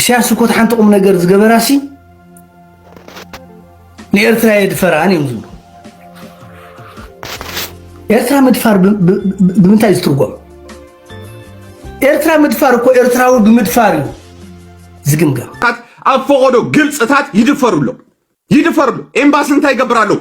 ኢሳያስ እኮ እቲ ሓንቲ ቁም ነገር ዝገበራሲ ንኤርትራ የድፈራን እዮም ዝብሉ ኤርትራ ምድፋር ብምንታይ ዝትርጎም ኤርትራ ምድፋር እኮ ኤርትራዊ ብምድፋር እዩ ዝግምገም ኣብ ፈቐዶ ግልፅታት ይድፈሩ ኣሎ ይድፈሩ ኣሎ ኤምባሲ እንታይ ይገብር ኣለዉ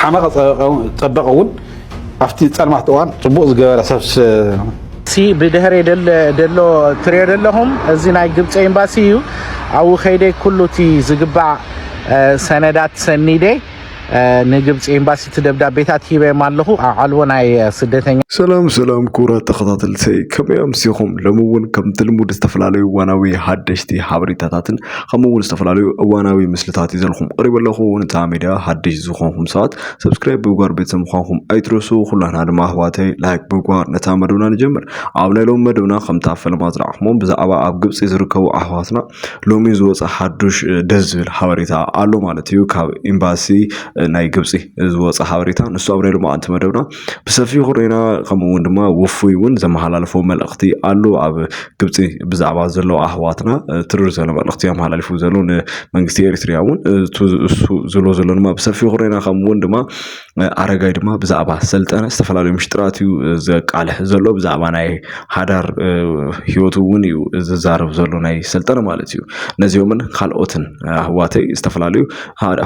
ሓመቐ ፀበቐ እውን ኣብቲ ፀልማት እዋን ፅቡቕ ዝገበረ ሰብ እቲ ብድሕሪ ደሎ ትሪኦ ዘለኹም እዚ ናይ ግብፂ ኤምባሲ እዩ ኣብኡ ከይደ ኩሉ እቲ ዝግባእ ሰነዳት ሰኒደ ንግብፂ ኤምባሲ እቲ ደብዳቤታት ሂበዮም ኣለኹ ኣብ ዓልቦ ናይ ስደተኛ ሰላም ሰላም ክቡራት ተኸታተልቲ ከመይ ኣምሲኹም ሎሚ እውን ከምቲ ልሙድ ዝተፈላለዩ ዋናዊ ሓደሽቲ ሓበሬታታትን ከምኡ እውን ዝተፈላለዩ እዋናዊ ምስልታት ይዘልኩም ቀሪቡ ኣለኹ ንታ ሜድያ ሓድሽ ዝኾንኩም ሰባት ሰብስክራይብ ብምግባር ቤተሰብ ምዃንኩም ኣይትረሱ ኩላትና ድማ ኣህዋተይ ላይክ ብምግባር ነታ መደብና ንጀምር ኣብ ናይ ሎሚ መደብና ከምታ ፈለማ ዝረኣኹሞ ብዛዕባ ኣብ ግብፂ ዝርከቡ ኣህዋትና ሎሚ ዝወፀ ሓዱሽ ደስ ዝብል ሓበሬታ ኣሎ ማለት እዩ ካብ ኤምባሲ ናይ ግብፂ ዝወፀ ሓበሬታ ንሱ ኣብ ናይ ሎማዓንቲ መደብና ብሰፊሑ ርኢና ከምኡ ውን ድማ ውፉይ ውን ዘመሓላለፎ መልእኽቲ ኣሎ ኣብ ግብፂ ብዛዕባ ዘለዉ ኣሕዋትና ትርር ዘሎ መልእኽቲ ኣመሓላሊፉ ዘሎ ንመንግስቲ ኤሪትሪያ ውን እሱ ዝሎ ዘሎ ድማ ብሰፊሑ ርኢና ከምኡ ውን ድማ ኣረጋይ ድማ ብዛዕባ ሰልጠነ ዝተፈላለዩ ምሽጥራት እዩ ዘቃልሕ ዘሎ ብዛዕባ ናይ ሓዳር ሂወቱ ውን እዩ ዝዛረብ ዘሎ ናይ ሰልጠነ ማለት እዩ ነዚኦምን ካልኦትን ኣሕዋተይ ዝተፈላለዩ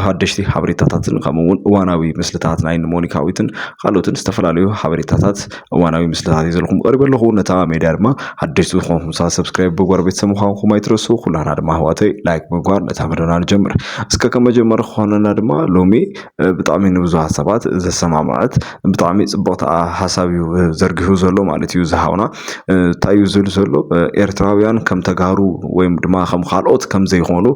ሓደሽቲ ሓበሬታታትን ከምኡ እውን እዋናዊ ምስልታት ናይ ሞኒካዊትን ካልኦትን ዝተፈላለዩ ሓበሬታታት እዋናዊ ምስልታት እዩ ዘለኹም ቀሪበ ኣለኹ ነታ ሜድያ ድማ ሓደሽቲ ዝኾንኩም ሰባት ሰብስክራይብ ብጓር ቤተሰብ ምዃንኩም ኣይትረሱ ኩላና ድማ ኣሕዋተይ ላይክ ምግባር ነታ መደብና ንጀምር እስከ ከም መጀመሪ ክኾነና ድማ ሎሚ ብጣዕሚ ንብዙሃት ሰባት ዘሰማምዐት ብጣዕሚ ጽቡቕቲ ሓሳብ እዩ ዘርጊሑ ዘሎ ማለት እዩ እዚ ሓውና እንታይ እዩ ዝብል ዘሎ ኤርትራውያን ከም ተጋሩ ወይ ድማ ከም ካልኦት ከም ዘይኮኑ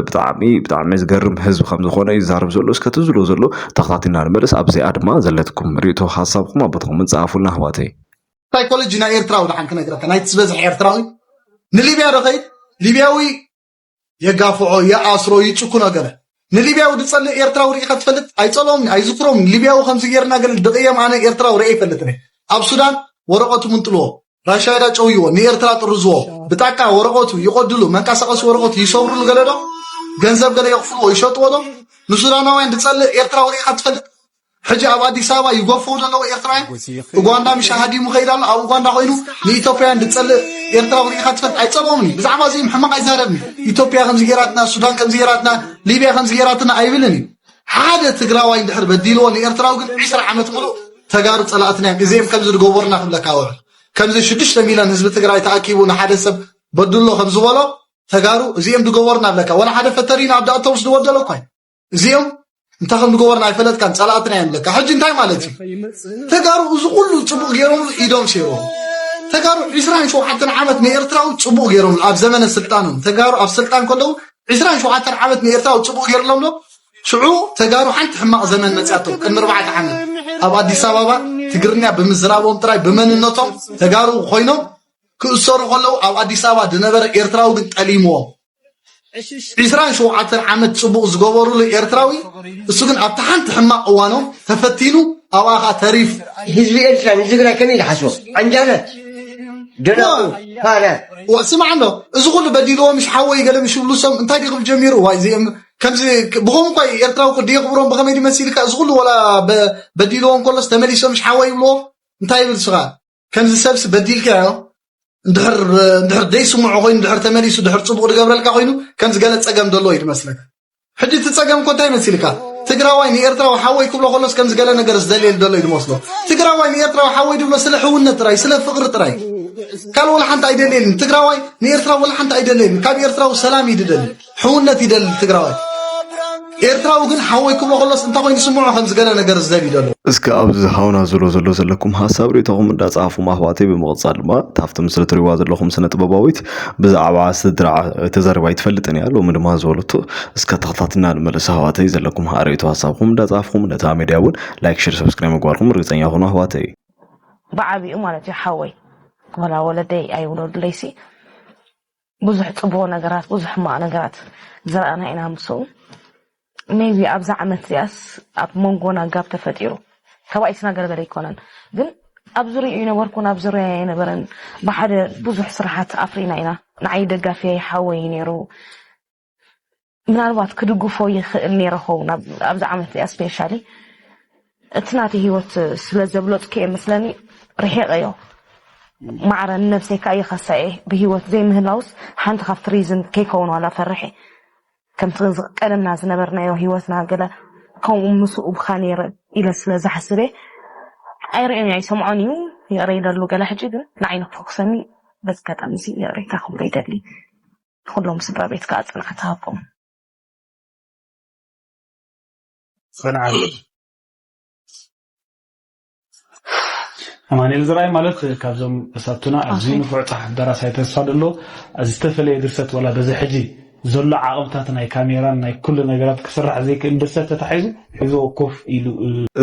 ብጣዕሚ ብጣዕሚ ዝገርም ህዝቢ ከም ዝኾነ እዩ ዝዛረብ ዘሎ እስከ እቲ ዝብሎ ዘሎ ተኸታቲልና ንመለስ ኣብዚኣ ድማ ዘለትኩም ርእይቶ ሓሳብኩም ኣብ ቦታኹም ጸሓፉልና ኣሕዋተይ ሳይኮሎጂ ናይ ኤርትራዊ ደሓን ክነግረካ ናይቲ ዝበዝሐ ኤርትራዊ ንሊብያ ዶ ከይድ ሊብያዊ የጋፍዖ ይኣስሮ ይጭኩኖ ገለ ንሊብያዊ ዝጸልእ ኤርትራዊ ርኢኻ ትፈልጥ ኣይጸልኦምኒ ኣይዝክሮም ሊብያዊ ከምዚ ጌርና ገለ ድቕየም ኣነ ኤርትራዊ ርኤ ይፈልጥኒ ኣብ ሱዳን ወረቐቱ ምንጥልዎ ራሻይዳ ጨውይዎ ንኤርትራ ጥርዝዎ ብጣቃ ወረቐቱ ይቖድሉ መንቀሳቐሲ ወረቐቱ ይሰብርሉ ገለዶ ገንዘብ ገለ የኽፍልዎ ይሸጥዎ ዶ ንሱዳናውያን ዝጸልእ ኤርትራዊ ርኢኻ ትፈልጥ ሕጂ ኣብ ኣዲስ ኣበባ ይጎፍዉ ዘለዉ ኤርትራውያን ኡጓንዳ ምሻ ሃዲሙ ከይድ ኣሎ ኣብ ኡጓንዳ ኮይኑ ንኢቶፕያውያን ድጸልእ ኤርትራዊ ርኢኻ ትፈልጥ ኣይትጸልኦምን እዩ ብዛዕባ እዚኦም ሕማቕ ኣይዛረብን እዩ ኢቶፕያ ከምዚ ጌራትና ሱዳን ከምዚ ጌራትና ሊብያ ከምዚ ጌራትና ኣይብልን እዩ ሓደ ትግራዋይ እንድሕር በዲልዎ ንኤርትራዊ ግን ዒስራ ዓመት ምሉእ ተጋሩ ጸላእትና እዮም እዚኦም ከምዚ ድገበሩና ክብለካ ወረ ከምዚ ሽዱሽተ ሚልዮን ህዝቢ ትግራይ ተኣኪቡ ንሓደ ሰብ በድሎ ከምዝበሎ ተጋሩ እዚኦም ድገበሩና ብለካ ወላ ሓደ ፈተሪና ኣብ ዳእተውስ ድወደሎ እኳ እዚኦም እንታይ ከም ዝገበሩና ኣይፈለጥካን ጸላእትና እዮም ለካ ሕጂ እንታይ ማለት እዩ ተጋሩ እዚ ኩሉ ጽቡቕ ገይሮም ኢዶም ሴሮም ተጋሩ 27 ዓመት ንኤርትራዊ ጽቡቕ ገይሮም ኣብ ዘመነ ስልጣኖም ተጋሩ ኣብ ስልጣን ከለዉ 27 ዓመት ንኤርትራዊ ጽቡቕ ገይርሎም ዶ ሽዑ ተጋሩ ሓንቲ ሕማቕ ዘመን መጽያቶም ቅድሚ ኣርባዕተ ዓመት ኣብ ኣዲስ ኣበባ ትግርኛ ብምዝራቦም ጥራይ ብመንነቶም ተጋሩ ኮይኖም ክእሰሩ ከለዉ ኣብ ኣዲስ ኣበባ ዝነበረ ኤርትራዊ ግን ጠሊምዎም ዒስራን ሸውዓተን ዓመት ጽቡቕ ዝገበሩሉ ኤርትራዊ እሱ ግን ኣብቲ ሓንቲ ሕማቕ እዋኖም ተፈቲኑ ኣብኣ ኸኣ ተሪፉ ህዝቢ ኤርትራ ንትግራይ ከመይ ዝሓስቦ ዓንጃላት ደናቑር ፋራት ዋእ ስማዕ ኣሎ እዚ ኩሉ በዲልዎ ምሽ ሓወይ ገለ ምሽ ብሉ ሰም እንታይ ድዩ ክብል ጀሚሩ ዋይ እዚኦም ከምዚ ብኸም እኳ ኤርትራዊ ቅዲ የኽብሮም ብኸመይ ድዩ መሲልካ እዚ ኩሉ ወላ በዲልዎ እንከሎስ ተመሊሶም ምሽ ሓወይ ይብልዎ እንታይ ይብል ስኻ ከምዚ ሰብሲ በዲልካዮ እንድሕር ዘይስምዖ ኮይኑ ድሕር ተመሊሱ ድሕር ፅቡቕ ዝገብረልካ ኮይኑ ከምዚ ገለ ፀገም ዘሎ እዩ ዝመስለካ ሕጂ እቲ ፀገም እኮ እንታይ መሲልካ ትግራዋይ ንኤርትራዊ ሓወይ ክብሎ ከሎስ ከምዚ ገለ ነገር ዝደልየሉ ዘሎ እዩ ዝመስሎ ትግራዋይ ንኤርትራዊ ሓወይ ድብሎ ስለ ሕውነት ጥራይ ስለ ፍቕሪ ጥራይ ካልእ ወላ ሓንቲ ኣይደልየልን ትግራዋይ ንኤርትራዊ ወላ ሓንቲ ኣይደልየልን ካብ ኤርትራዊ ሰላም እዩ ዝደሊ ሕውነት ይደሊ ትግራዋይ ኤርትራዊ ግን ሓወይ ክብሎ ከሎስ እንታይ ኮይኑ ስምዖ ከምዚ ገለ ነገር ዝደብ ይደሎ እስከ ኣብዚ ሃውና ዝሎ ዘሎ ዘለኩም ሀሳብ ርእቶኹም እንዳጻፉ ማህዋተይ ብምቕጻል ድማ ታፍቲ ምስሊ ትሪዋ ዘለኹም ስነ ጥበባዊት ብዛዕባ ስድራ ተዘርባ ይትፈልጥን እያ ሎሚ ድማ ዝበለቶ እስከ ተኸታትና ንመለስ ኣህዋተይ ዘለኩም ርእቶ ሀሳብኩም እንዳጻፍኩም ነታ ሜድያ እውን ላይክ ሽር ሰብስክራይብ ምግባርኩም ርግጸኛ ኹኑ ኣህዋተይ ብዓቢኡ ማለት እዩ ሓወይ ወላ ወለደይ ኣይውለዱለይሲ ብዙሕ ጽቡቅ ነገራት ብዙሕ ሕማቅ ነገራት ዝረኣና ኢና ምስኡ ሜይቢ ኣብዛ ዓመት እዚኣስ ኣብ መንጎና ጋብ ተፈጢሩ ካብኣ ይስናገረገለ ኣይኮነን ግን ኣብ ዙርያኡ ይነበርኩን ኣብ ዙርያ ኣይነበረን ብሓደ ብዙሕ ስራሓት ኣፍሪና ኢና ንዓይ ደጋፊየይ ሓወይ ነይሩ ምናልባት ክድግፎ ይኽእል ነይረ ኸውን ኣብዚ ዓመት እዚኣ ስፔሻሊ እቲ ናተይ ሂወት ስለ ዘብለጥኩ እየ መስለኒ ርሒቐዮ ማዕረ ንነብሰይ ከዓ ይኸሳ እየ ብሂወት ዘይምህላውስ ሓንቲ ካብቲ ሪዝን ከይከውን ዋላ ፈርሐ ከምቲ ቀደምና ዝነበርናዮ ሂወትና ገለ ከምኡ ምስኡ ብካ ነይረ ኢለ ስለ ዝሓስብ እየ ኣይርእዮን ኣይሰምዖን እዩ ይቕረ ይደሉ ገለ ሕጂ ግን ንዓይ ንክፈኩሰኒ በዚ ኣጋጣሚ እዚ ይቕሬታ ክብሎ ይደሊ ንኹሎም ስድራ ቤት ከኣ ጽንዓት ይሃብኩም። ጽንዓት ኣማኒኤል ዘርኣይ ማለት ካብዞም ተሳትቱና ኣብዚ ንፉዕ ጸሓፍ ደራሳይ ተስፋ ደሎ ዝተፈለየ ድርሰት ወላ በዚ ሕጂ ዘሎ ዓቕምታት ናይ ካሜራን ናይ ኩሉ ነገራት ክስራሕ ዘይክእል ድርሰት ተታሒዙ ሒዝዎ ኮፍ ኢሉ።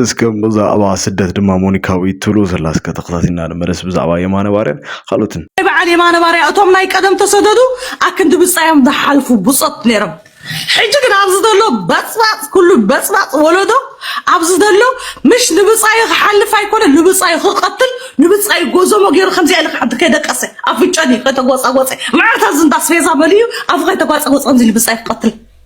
እስከ ብዛዕባ ስደት ድማ ሞኒካ ዊት ትብሉ ዘላ እስከ ተኸታቲልና ንመለስ ብዛዕባ የማነ ባርያን ካልኦትን። ናይ በዓል የማነ ባርያ እቶም ናይ ቀደም ተሰደዱ ኣክንዲ ብጻዮም ዝሓልፉ ብጾት ነይሮም ሕጂ ግን ኣብዚ ዘሎ በጽባጽ ኩሉ በጽባጽ ወለዶ ኣብዚ ዘሎ ምሽ ንብጻዩ ክሓልፍ ኣይኮነ ንብጻዩ ክቀትል ንብጻዩ ጎዞሞ ገይሩ ከምዚኣ ኢለ ክሓዲ ከይደቀሰ ኣፍንጨኒ ከይተጎጻጎጸ መዓልታ ዝንዳ ስፌዛ መሊኡ ኣፉ ከይተጓጸጎጸ ከምዚ ንብጻዩ ክቀትል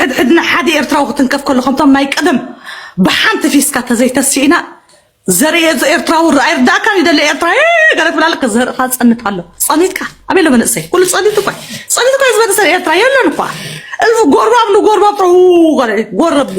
ሕድሕድና ሓደ ኤርትራዊ ክትንከፍ ከሎ ከምቶም ናይ ቀደም ብሓንቲ ፊስካ ተዘይተሲእና ዘርእየዞ ኤርትራዊ ርኣይ ርዳእካ ይደለ ኤርትራ ገለ ትብል ኣለካ ዘርእኻ ጸንት ኣሎ ጸኒትካ ኣበይ ኣሎ መንእሰይ ኩሉ ጸኒት እኳ ጸኒት እኳ ዝበለሰ ኤርትራ የለን እኳ እልፍ ጎርባብ ንጎርባብ ጥሩ ጎረብሉ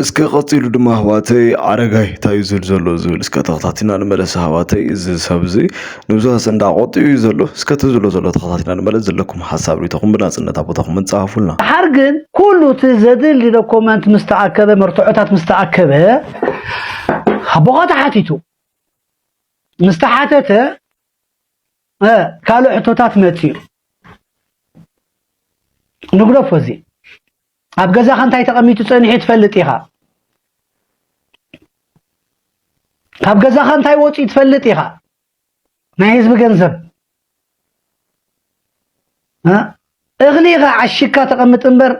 እስከ ቀጺሉ ድማ ኣሕዋተይ ኣረጋይ እንታይ እዩ ዝብል ዘሎ ዝብል እስከ ተኸታቲና ንመለስ ኣሕዋተይ እዚ ሰብ እዚ ንብዙሕ ኣሰንዳ ቆጢኡ እዩ ዘሎ እስከ እቲ ዝብሎ ዘሎ ተኸታቲና ንመለስ ዘለኩም ሓሳብ ሪኢቶኹም ብናጽነት ኣብ ቦታኹም ጸሓፉልና ድሓር ግን ኩሉ እቲ ዘድሊ ዶኮመንት ምስ ተኣከበ መርትዖታት ምስ ተኣከበ ኣቦኻ ተሓቲቱ ምስ ተሓተተ ካልእ ሕቶታት መጺኡ ንግደፎ እዚ ኣብ ገዛኻ እንታይ ተቐሚጡ ጸኒሑ ትፈልጥ ኢኻ። ካብ ገዛኻ እንታይ ወፂኡ ትፈልጥ ኢኻ። ናይ ህዝቢ ገንዘብ እኽሊ ኢኻ ዓሽግካ ተቐምጥ እምበር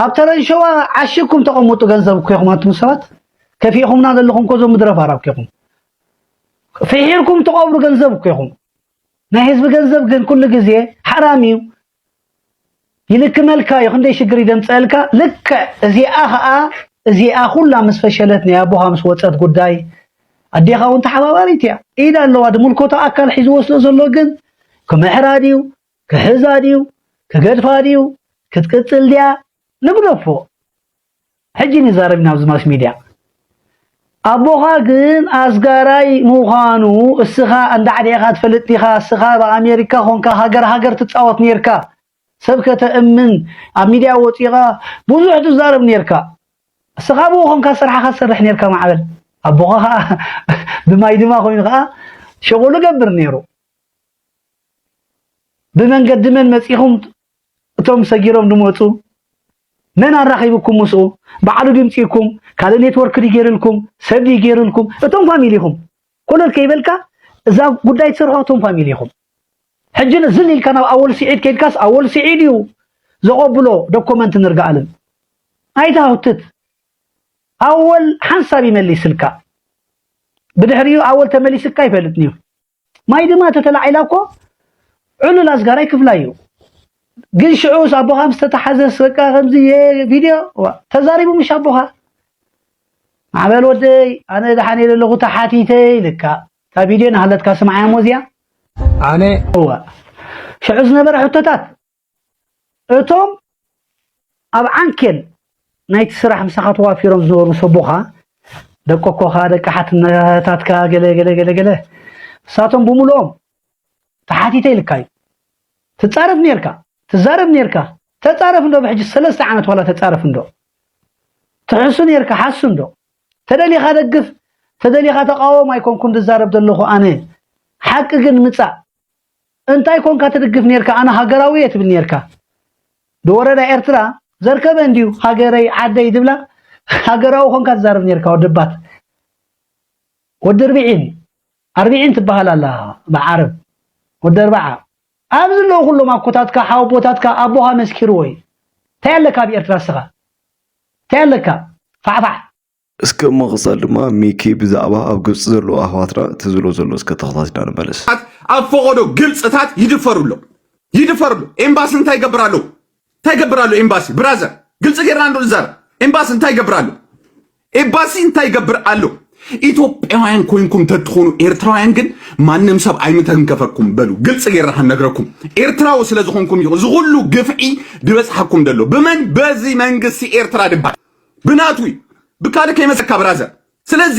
ኣብ ተረንሸዋ ዓሽግኩም ተቐምጡ ገንዘብ እኮ ኢኹም ኣንቱም ሰባት ከፊእኹምና ዘለኹም እኮ እዞም ምድረ ፋራ እኮ ኢኹም ፍሒርኩም ተቐብሩ ገንዘብ እኮ ኢኹም። ናይ ህዝቢ ገንዘብ ግን ኩሉ ግዜ ሓራም እዩ። ይልክመልካ እዩ ክንደይ ሽግር እዩ ደምፀእልካ ልክዕ እዚኣ ከዓ እዚኣ ኩላ ምስ ፈሸለት ናይ ኣቦኻ ምስ ወፀት ጉዳይ ኣዴኻ እውን ተሓባባሪት እያ ኢድ ኣለዋ ድምልኮቶ ኣካል ሒዝዎ ስለ ዘሎ ግን ክምሕራ ድዩ ክሕዛ ድዩ ክገድፋ ድዩ ክትቅፅል ድያ ንግደፎ ሕጂ ንዛረብ ኢና ኣብዚ ማስ ሚድያ ኣቦኻ ግን ኣስጋራይ ምዃኑ እስኻ እንዳ ዕድዒኻ ትፈልጥ ዲኻ እስኻ ኣብ ኣሜሪካ ኾንካ ሃገር ሃገር ትጻወት ኔርካ ሰብ ከተእምን ኣብ ሚድያ ወጺኻ ብዙሕ ትዛረብ ኔርካ እስኻ ኣብኡ ኾንካ ስራሕኻ ትሰርሕ ኔርካ ማዕበል ኣቦኻ ኸዓ ብማይ ድማ ኮይኑ ኸዓ ሸጎሉ ገብር ኔሩ ብመንገዲ መን መጺኹም እቶም ሰጊሮም ድመጹ መን ኣራኺብኩም ምስኡ ባዕሉ ድምጺኩም ካልእ ኔትወርክ ድዩ ጌርልኩም ሰብ ድዩ ጌርልኩም እቶም ፋሚሊ ኢኹም ኮለል ከይበልካ እዛ ጉዳይ ትሰርሖ እቶም ፋሚሊ ኢኹም ሕጂ ዝል ኢልካ ናብ ኣወል ስዒድ ከይድካስ ኣወል ስዒድ እዩ ዘቐብሎ ዶኮመንት ንርግኣልን ኣይትሃውትት ኣወል ሓንሳብ ይመሊስልካ ብድሕሪኡ ኣወል ተመሊስካ ይፈልጥን እዩ ማይ ድማ ተተላዒላ እኮ ዑሉል ኣስጋራይ ክፍላይ እዩ ግን ሽዑስ ኣቦኻ ምስ ተታሓዘስ በቃ ከምዚ ቪድዮ ተዛሪቡ ምሽ ኣቦኻ ማዕበል ወደይ ኣነ ደሓን እየ ዘለኹ ተሓቲተ ኢልካ እታ ቪድዮ ናሃለትካ ስምዓያ እሞ እዚኣ ኣነ እዋ ሽዑ ዝነበረ ሕቶታት እቶም ኣብ ዓንኬል ናይቲ ስራሕ ምሳኻ ተዋፊሮም ዝነበሩ ሰቦኻ፣ ደቂ ኣኮኻ፣ ደቂ ሓትነታትካ ገለ ገለ ገለ ገለ ንሳቶም ብምሉኦም ተሓቲተ ኢልካ እዩ። ትጻረፍ ኔርካ፣ ትዛረብ ኔርካ፣ ተጻረፍ እንዶ ብሕጂ ሰለስተ ዓመት ዋላ ተጻረፍ እንዶ። ትሕሱ ኔርካ ሓሱ እንዶ። ተደሊኻ ደግፍ፣ ተደሊኻ ተቓወም ኣይኮንኩን ዝዛረብ ዘለኹ ኣነ። ሓቂ ግን ምጻእ፣ እንታይ ኮንካ ትድግፍ ኔርካ ኣነ ሃገራዊ እየ ትብል ኔርካ ድወረዳ ኤርትራ ዘርከበ እንድዩ ሃገረይ ዓደይ ዝብላ ሃገራዊ ኮንካ ትዛረብ ኔርካ ወደባት ወዲ ርብዒን ኣርብዒን ትበሃል ኣላ ብዓረብ ወዲ ኣርባዓ ኣብዚ ኣለዉ ኩሎም ኣኮታትካ ሓወቦታትካ ኣቦኻ መስኪርዎ እዩ እንታይ ኣለካ ኣብ ኤርትራ እስኻ እንታይ ኣለካ ፋዕፋዕ እስከ ብምቕጻል ድማ ሚኪ ብዛዕባ ኣብ ግብጺ ዘለዉ ኣሕዋትና እቲ ዝብሎ ዘሎ እስከ ተኸታቲልና ንመለስ። ኣብ ፈቆዶ ግብጽታት ይድፈሩ ኣሎ ይድፈሩ ኣሎ ኤምባሲ እንታይ ይገብር ኣሎ እንታይ ይገብር ኣሎ ኤምባሲ ብራዘር ግልጽ ጌርና እንዶ ንዛረብ ኤምባሲ እንታይ ይገብር ኣሎ ኤምባሲ እንታይ ይገብር ኣሎ ኢትዮጵያውያን ኮይንኩም ተትኾኑ ኤርትራውያን ግን ማንም ሰብ ኣይምተንከፈኩም በሉ ግልጽ ጌርና ክንነግረኩም ኤርትራዊ ስለ ዝኾንኩም እዩ ዝኹሉ ግፍዒ ድበጽሓኩም ደሎ ብመን በዚ መንግስቲ ኤርትራ ድባል ብናቱ እዩ ብካልእ ከይመፀካ ብራዘር ስለዚ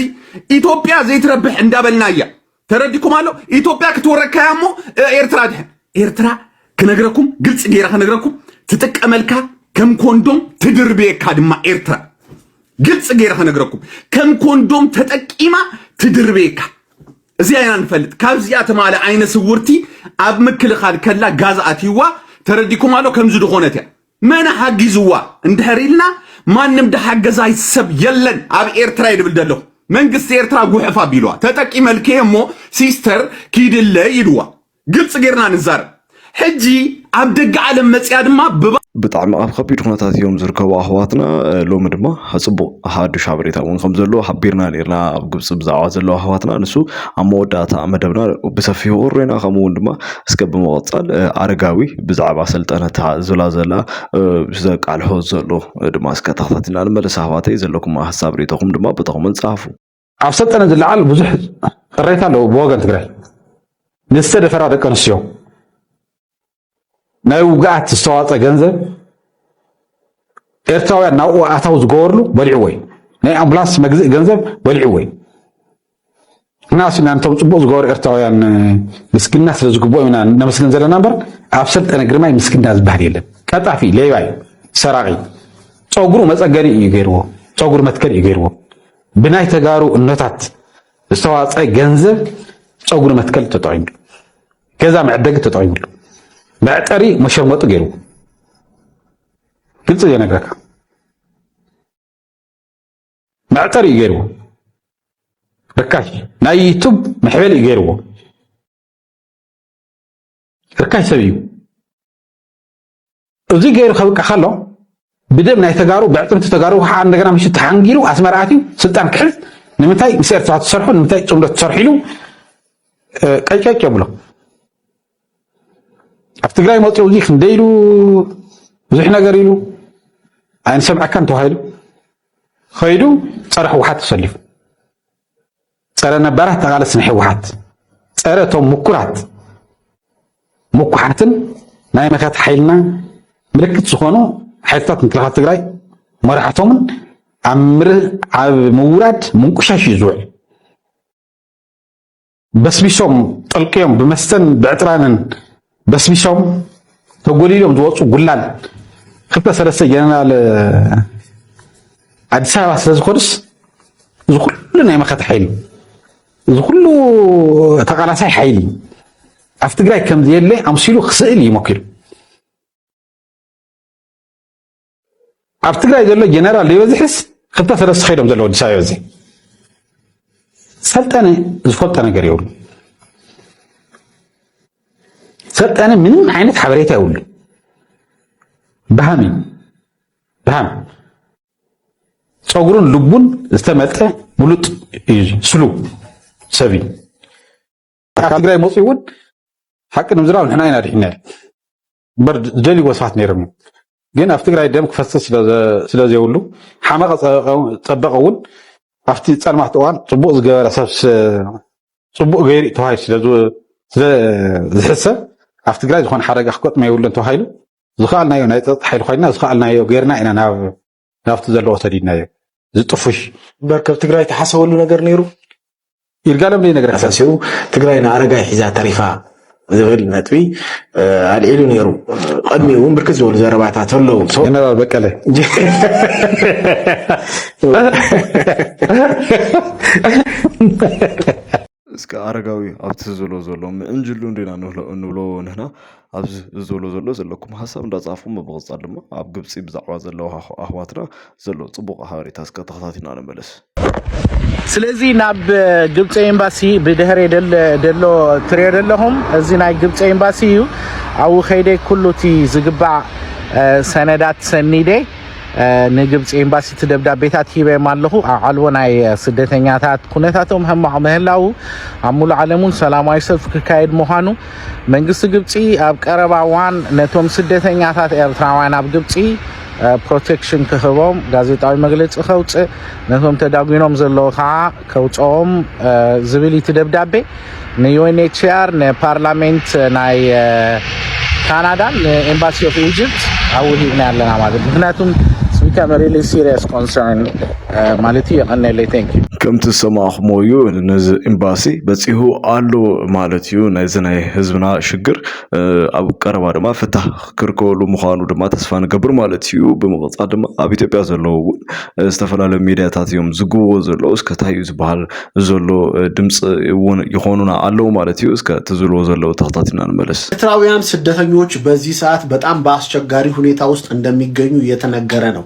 ኢትዮጵያ ዘይትረብሕ እንዳበልና እያ ተረዲኩም ኣሎ ኢትዮጵያ ክትወረካያ እሞ ኤርትራ ድሕን ኤርትራ ክነግረኩም ግልፂ ገይረ ክነግረኩም ትጥቀመልካ ከም ኮንዶም ትድርብየካ ድማ ኤርትራ ግልፂ ገይረ ክነግረኩም ከም ኮንዶም ተጠቂማ ትድርብየካ እዚኣ ኢና ንፈልጥ ካብዚኣ ትማለ ዓይነ ስውርቲ ኣብ ምክልኻል ከላ ጋዝ ኣትይዋ ተረዲኩም ኣሎ ከምዚ ድኾነት እያ መን ሓጊዝዋ እንድሕር ኢልና ማንም ድሓገዛይ ሰብ የለን ኣብ ኤርትራ እየ ድብል ዘለኹ መንግስቲ ኤርትራ ጉሕፍ ኣቢልዋ ተጠቂመልክ እየ እሞ ሲስተር ኪድለይ ኢልዋ ግልፂ ጌርና ንዛረብ ሕጂ ኣብ ደገ ዓለም መፅያ ድማ ብባ ብጣዕሚ ኣብ ከቢድ ኩነታት እዮም ዝርከቡ ኣሕዋትና ሎሚ ድማ ፅቡቅ ሓዱሽ ሓበሬታ እውን ከም ዘለዎ ሓቢርና ነርና ኣብ ግብፂ ብዛዕባ ዘለዉ ኣሕዋትና ንሱ ኣብ መወዳእታ መደብና ብሰፊሑ ክርና ከምኡ እውን ድማ እስከ ብምቕጻል ኣረጋዊ ብዛዕባ ስልጠነታ ዝብላ ዘላ ዘቃልሖ ዘሎ ድማ እስከ ተኸታቲና ንመለስ ኣሕዋተይ ዘለኩም ሀሳብ ሬቶኹም ድማ ብተኹምን ጻፉ ኣብ ሰልጠነ ዝለዓል ብዙሕ ቅሬታ ኣለዎ ብወገን ትግራይ ንዝተደፈራ ደቂ ኣንስትዮ ናይ ውግኣት ዝተዋፀ ገንዘብ ኤርትራውያን ናብኡ ኣታው ዝገበርሉ በሊዕዎ እዩ ናይ ኣምቡላንስ መግዝእ ገንዘብ በሊዕዎ እዩ ንሕናስ ኢና ነቶም ፅቡቕ ዝገበሩ ኤርትራውያን ምስግና ስለ ዝግብኦ ኢና ነመስግን ዘለና እምበር ኣብ ሰልጠነ ግርማይ ምስግና ዝበሃል የለን። ቀጣፊ ሌባ እዩ፣ ሰራቂ ፀጉሩ መፀገኒ እዩ ገይርዎ፣ ፀጉሪ መትከል እዩ ገይርዎ። ብናይ ተጋሩ እኖታት ዝተዋፀ ገንዘብ ፀጉሪ መትከል ተጠቂምሉ፣ ገዛ መዕደጊ ተጠቂምሉ፣ መዕጠሪ መሸርመጡ ገይርዎ። ግልፂ ዘይነግረካ መዕጠር እዩ ገይርዎ ርካሽ ናይ ዩቱብ መሕበል እዩ ገይርዎ ርካሽ ሰብ እዩ እዚ ገይሩ ከብቅዕ ከሎ ብደም ናይ ተጋሩ ብዕጥምቲ ተጋሩ ከዓ እንደገና ምሽ ተሓንጊሩ ኣስመራ ኣትዩ ስልጣን ክሕዝ ንምንታይ ምስ ኤርትራ ትሰርሑ ንምንታይ ፅምዶ ትሰርሑ ኢሉ ቀጨጭ የብሎ ኣብ ትግራይ መፂኡ እዚ ክንደይ ኢሉ ብዙሕ ነገር ኢሉ ኣይንሰምዐካን ተባሂሉ ከይዱ ፀረ ህወሓት ተሰሊፉ ፀረ ነባራት ተቓለስ ናይ ህወሓት ፀረ እቶም ምኩራት ምኩሓትን ናይ መኸት ሓይልና ምልክት ዝኾኑ ሓይልታት ምክልኻል ትግራይ መራሕቶምን ኣብ ምውራድ ምንቁሻሽ እዩ ዝውዕል በስቢሶም ጠልቅዮም ብመስተን ብዕጥራንን በስቢሶም ተጎሊሎም ዝወፁ ጉላል ክልተ ሰለስተ ጀነራል ኣዲስ ኣበባ ስለዝኮኑስ እዚ ኩሉ ናይ መኸተ ሓይሊ እዚ ኩሉ ተቃላሳይ ሓይሊ ኣብ ትግራይ ከምዘየለ ኣምሲሉ ክስእል ይሞኪሩ ኣብ ትግራይ ዘሎ ጀነራል ዘይበዝሕስ ክልተ ሰለስተ ከይዶም ዘለዎ ኣዲስ ኣበባ እዚ ሰልጠነ ዝፈልጦ ነገር የብሉ ሰልጠነ ምንም ዓይነት ሓበሬታ የብሉ ብሃም እዩ ብሃም ፀጉሩን ልቡን ዝተመልጠ ብሉጥ እዩ ስሉ ሰብ እዩ ትግራይ መፅኡ እውን ሓቂ ንምዝራብ ንሕና ኢና ድሕና እምበር ዝደልይዎ ሰባት ነይሮም እዮም ግን ኣብ ትግራይ ደም ክፈስስ ስለዘይብሉ ሓመቐ ፀበቐ እውን ኣብቲ ፀልማት እዋን ፅቡቅ ዝገበረ ሰብ ፅቡቅ ገይሩ ተባሂሉ ስለዝሕሰብ ኣብ ትግራይ ዝኾነ ሓደጋ ክገጥሞ የብሉን ተባሂሉ ዝኸኣልናዮ ናይ ፀጥታ ሓይሊ ኮይና ዝኸኣልናዮ ገይርና ኢና ናብ ናብቲ ዘለዎ ሰዲድናዮ ዝጥፉሽ እምበር ከብ ትግራይ ተሓሰበሉ ነገር ነይሩ ይርጋለም ዘይነገረ ኣሳሲሩ ትግራይ ንኣረጋይ ሒዛ ተሪፋ ዝብል ነጥቢ ኣልዒሉ ነይሩ ቅድሚ እውን ብርክት ዝበሉ ዘረባታት ኣለዉ ጀነራል በቀለ እስከ ኣረጋዊ ኣብቲ ዝብሎ ዘሎ ምእንጅሉ እንዲና እንብሎ ንሕና ኣብዚ ዝብሎ ዘሎ ዘለኩም ሀሳብ እንዳጻፉም ብምቕጻል ድማ ኣብ ግብጺ ብዛዕባ ዘለዉ ኣሕዋትና ዘሎ ጽቡቕ ሓበሬታ እስከ ተኸታቲልና ንመለስ። ስለዚ ናብ ግብፂ ኤምባሲ ብድሕሪ ደሎ ትሪኦ ደለኹም እዚ ናይ ግብፂ ኤምባሲ እዩ ኣብኡ ከይደ ኩሉ እቲ ዝግባእ ሰነዳት ሰኒደ ንግብፂ ኤምባሲ እቲ ደብዳቤታት ሂበዮም ኣለኹ ኣብ ዓልቦ ናይ ስደተኛታት ኩነታቶም ሕማቕ ምህላው ኣብ ሙሉእ ዓለም እውን ሰላማዊ ሰልፊ ክካየድ ምዃኑ መንግስቲ ግብፂ ኣብ ቀረባ እዋን ነቶም ስደተኛታት ኤርትራውያን ኣብ ግብፂ ፕሮቴክሽን ክህቦም ጋዜጣዊ መግለፂ ከውፅእ ነቶም ተዳጒኖም ዘለዉ ከዓ ከውፅኦም ዝብል እቲ ደብዳቤ ንዩኤንኤችሲኣር ንፓርላሜንት ናይ ካናዳን ንኤምባሲ ኦፍ ኢጅፕት ኣውሂብና ኣለና ማለት ምክንያቱም ስቢካም ሪሊ ሲሪየስ ኮንሰርን ማለት እዩ የቀነለይ ቴንክ ዩ ከምቲ ዝሰማዕኹምዎ እዩ ነዚ ኤምባሲ በፂሁ ኣሎ ማለት እዩ ናይዚ ናይ ህዝብና ሽግር ኣብ ቀረባ ድማ ፍታህ ክርከበሉ ምዃኑ ድማ ተስፋ ንገብር ማለት እዩ ብምቕጻል ድማ ኣብ ኢትዮጵያ ዘለዉ እውን ዝተፈላለዩ ሚድያታት እዮም ዝግብዎ ዘለዉ እስከ እንታይ እዩ ዝበሃል ዘሎ ድምፂ እውን ይኾኑና ኣለዉ ማለት እዩ እስከ እቲ ዝብልዎ ዘለዉ ተኸታቲልና ንመለስ ኤርትራውያን ስደተኞች በዚህ ሰዓት በጣም በአስቸጋሪ ሁኔታ ውስጥ እንደሚገኙ እየተነገረ ነው።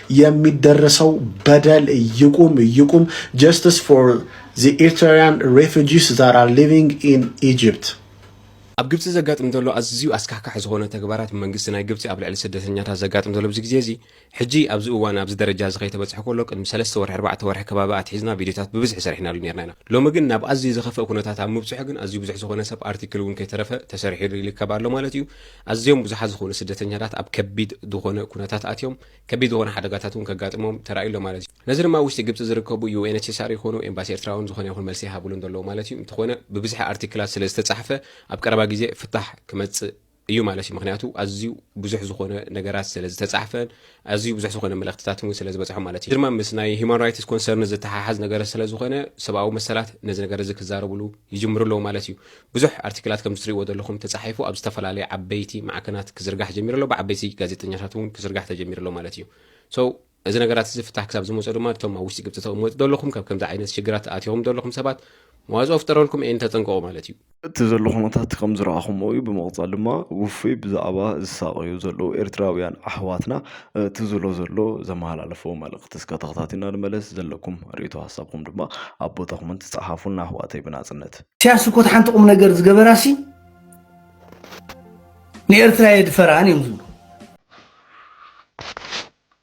የሚደረሰው በደል ይቁም ይቁም ጀስትስ ፎር ዘ ኤርትራውያን ሬፊጂስ ዛት ኣር ሊቪንግ ኢን ኢጅፕት ኣብ ግብጺ ዘጋጥም ዘሎ ኣዝዩ ኣስካሕካሒ ዝኾነ ተግባራት ብመንግስቲ ናይ ግብጺ ኣብ ልዕሊ ስደተኛታት ዘጋጥም ዘሎ ኣብዚ ግዜ እዚ ሕጂ ኣብዚ እዋን ኣብዚ ደረጃ እዚ ከይተበጽሐ ከሎ ቅድሚ ሰለስተ ወርሒ ኣርባዕተ ወርሒ ከባቢ ኣትሒዝና ቪድዮታት ብብዝሒ ሰሪሕናሉ ነርና ኢና ሎሚ ግን ናብ ኣዝዩ ዝኸፍእ ኩነታት ኣብ ምብጽሑ ግን ኣዝዩ ብዙሕ ዝኾነ ሰብ ኣርቲክል እውን ከይተረፈ ተሰሪሒሉ ይርከብ ኣሎ ማለት እዩ ኣዝዮም ብዙሓት ዝኾኑ ስደተኛታት ኣብ ከቢድ ዝኾነ ኩነታት ኣትዮም ከቢድ ዝኾነ ሓደጋታት እውን ከጋጥሞም ተራእዩ ኣሎ ማለት እዩ። ነዚ ድማ ኣብ ውሽጢ ግብጺ ዝርከቡ UNHCR ይኾኑ ኤምባሲ ኤርትራ እውን ዝኾነ ይኹን መልሲ ይሃብሉ እንደለዉ ማለት እዩ። እንተኾነ ብብዝሒ ኣርቲክላት ስለ ዝተጻሕፈ ኣብ ቀረባ ግዜ ፍታሕ ክመጽእ እዩ ማለት እዩ። ምኽንያቱ ኣዝዩ ብዙሕ ዝኾነ ነገራት ስለ ዝተጻሕፈን ኣዝዩ ብዙሕ ዝኾነ መልእኽትታትን እውን ስለ ዝበጽሖም ማለት እዩ። እዚ ድማ ምስ ናይ Human Rights Concern ዝተሓሓዝ ነገር ስለ ዝኾነ ሰብኣዊ መሰላት ነዚ ነገር እዚ ክዛረብሉ ይጅምሩ ኣለዉ ማለት እዩ። ብዙሕ ኣርቲክላት ከምዚ ትሪእዎ ዘለኹም ተጻሒፉ ኣብ ዝተፈላለየ ዓበይቲ ማዕከናት ክዝርጋሕ ጀሚሩ ኣሎ ብዓበይቲ ጋዜጠኛታት እውን ክዝርጋሕ ተጀሚሩ ኣሎ ማለት እዩ so እዚ ነገራት እዚ ፍታሕ ክሳብ ዝመጾ ድማ እቶም ኣብ ውሽጢ ግብጺ ተቕመጡ ዘለኹም ካብ ከምዚ ዓይነት ሽግራት ኣትኹም ዘለኹም ሰባት መዋጽኦ ፍጠረልኩም ኤን ተጠንቀቑ ማለት እዩ እቲ ዘሎ ኩነታት ከም ዝረኣኹሞ እዩ ብምቕጻል ድማ ውፉይ ብዛዕባ ዝሳቐዩ ዘለዉ ኤርትራውያን ኣሕዋትና እቲ ዝሎ ዘሎ ዘመሃላለፎ መልእኽቲ እስከ ተኸታቲና ንመለስ ዘለኩም ርእቶ ሃሳብኩም ድማ ኣብ ቦታ ኮመንት ጸሓፉልና ኣሕዋተይ ብናጽነት ኢሳያስ እኮ እቲ ሓንቲ ቁም ነገር ዝገበራሲ ንኤርትራ የድፈራን እዮም ዝብሉ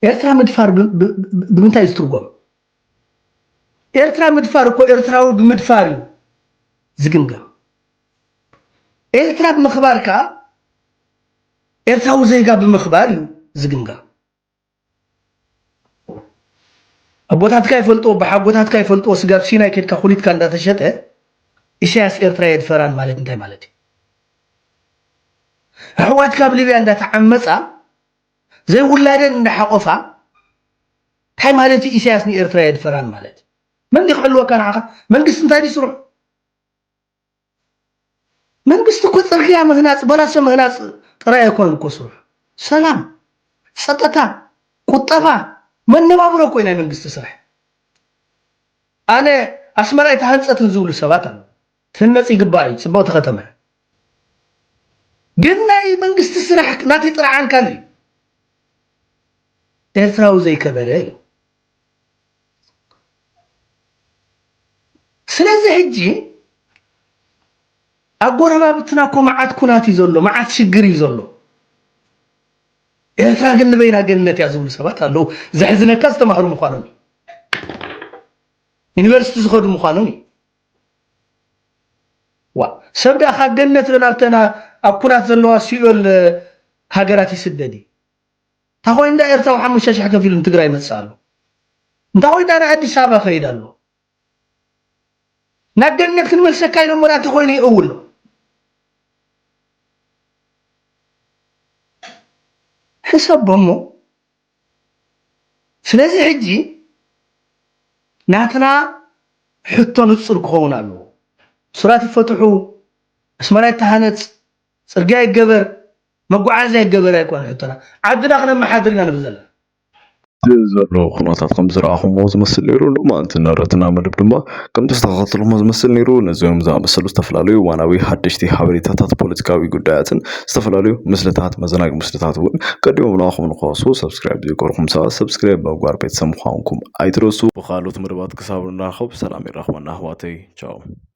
ኤርትራ ምድፋር ብምንታይ ዝትርጎም ኤርትራ ምድፋር እኮ ኤርትራዊ ብምድፋር እዩ ዝግምገም ኤርትራ ብምኽባር ከዓ ኤርትራዊ ዜጋ ብምኽባር እዩ ዝግምገም ኣቦታትካ ይፈልጥዎ ኣቦሓጎታትካ ይፈልጥዎ ስጋብ ሲናይ ከድካ ኩሊትካ እንዳተሸጠ ኢሳያስ ኤርትራ የድፈራን ማለት እንታይ ማለት እዩ ኣሕዋትካ ኣብ ሊብያ እንዳተዓመጻ ዘይውላደን እንዳሓቆፋ እንታይ ማለት እዩ ኢሳያስ ንኤርትራ የድፈራን ማለት መን ክሕልወካ ንዓኻ መንግስቲ እንታይ ድዩ ስርሑ መንግስቲ እኮ ፅርግያ ምህናፅ በላሶ ምህናፅ ጥራይ ኣይኮነን እኮ ስርሑ ሰላም ፀጥታ ቁጠባ መነባብሮ እኮ እዩ ናይ መንግስቲ ስራሕ ኣነ ኣስመራ ኣይተሃንፀትን ዝብሉ ሰባት ኣለዉ ትህነፅ ይግባእ እዩ ፅብቅቲ ከተማ እያ ግን ናይ መንግስቲ ስራሕ ናተይ ጥርዓን ካልእ እዩ ኤርትራዊ ዘይከበረ እዩ ስለዚ ሕጂ ኣብ ጎረባብትና እኮ መዓት ኩናት እዩ ዘሎ፣ መዓት ሽግር እዩ ዘሎ። ኤርትራ ግን ንበይና ገነት እያ ዝብሉ ሰባት ኣለዉ። ዘሕዝነካ ዝተማህሩ ምዃኖም እዩ፣ ዩኒቨርሲቲ ዝኸዱ ምዃኖም እዩ። ዋ ሰብ ደኣ ካብ ገነት ናብተን ኣብ ኩናት ዘለዋ ሲኦል ሃገራት ይስደድ እዩ። እንታይ ኮይኑ እንዳ ኤርትራዊ ሓሙሽተ ሽሕ ከፊሉ ንትግራይ ይመጽእ ኣሎ እንታይ ኮይኑ እንዳ ኣዲስ ኣበባ ይኸይድ ኣሎ ናብ ገነት ክንመልሰካ ኢሎሞ ድኣ እንተኾይኑ ይእውሎ ሕሰቦ እሞ ስለዚ ሕጂ ናትና ሕቶ ንጹር ክኸውን ኣለዎ እሱራት ይፈትሑ ኣስመራ ይተሃነጽ ጽርግያ ይገበር መጓዓዝያ ይገበር ኣይኮነን ሕቶና ዓድና ክነመሓድር ኢና ንብል ዘለና። እቲ ዘሎ ኩነታት ከም ዝረኣኹምዎ ዝመስል ነይሩ፣ ሎማንቲ ንረትና መደብ ድማ ከምቲ ዝተኸታተልኩሞ ዝመስል ነይሩ። ነዚኦም ዝኣመሰሉ ዝተፈላለዩ እዋናዊ ሓደሽቲ ሓበሬታታት፣ ፖለቲካዊ ጉዳያትን ዝተፈላለዩ ምስልታት፣ መዘናጊ ምስልታት እውን ቀዲሞም ንኣኹም ንክበጽሑ ሰብስክራይብ ዘይገበርኩም ሰባት ሰብስክራይብ ብምግባር ቤተሰብ ምዃንኩም ኣይትረሱ። ብኻልኦት መደባት ክሳብ ንራኸብ ሰላም የራኽበና ኣሕዋተይ ቻው።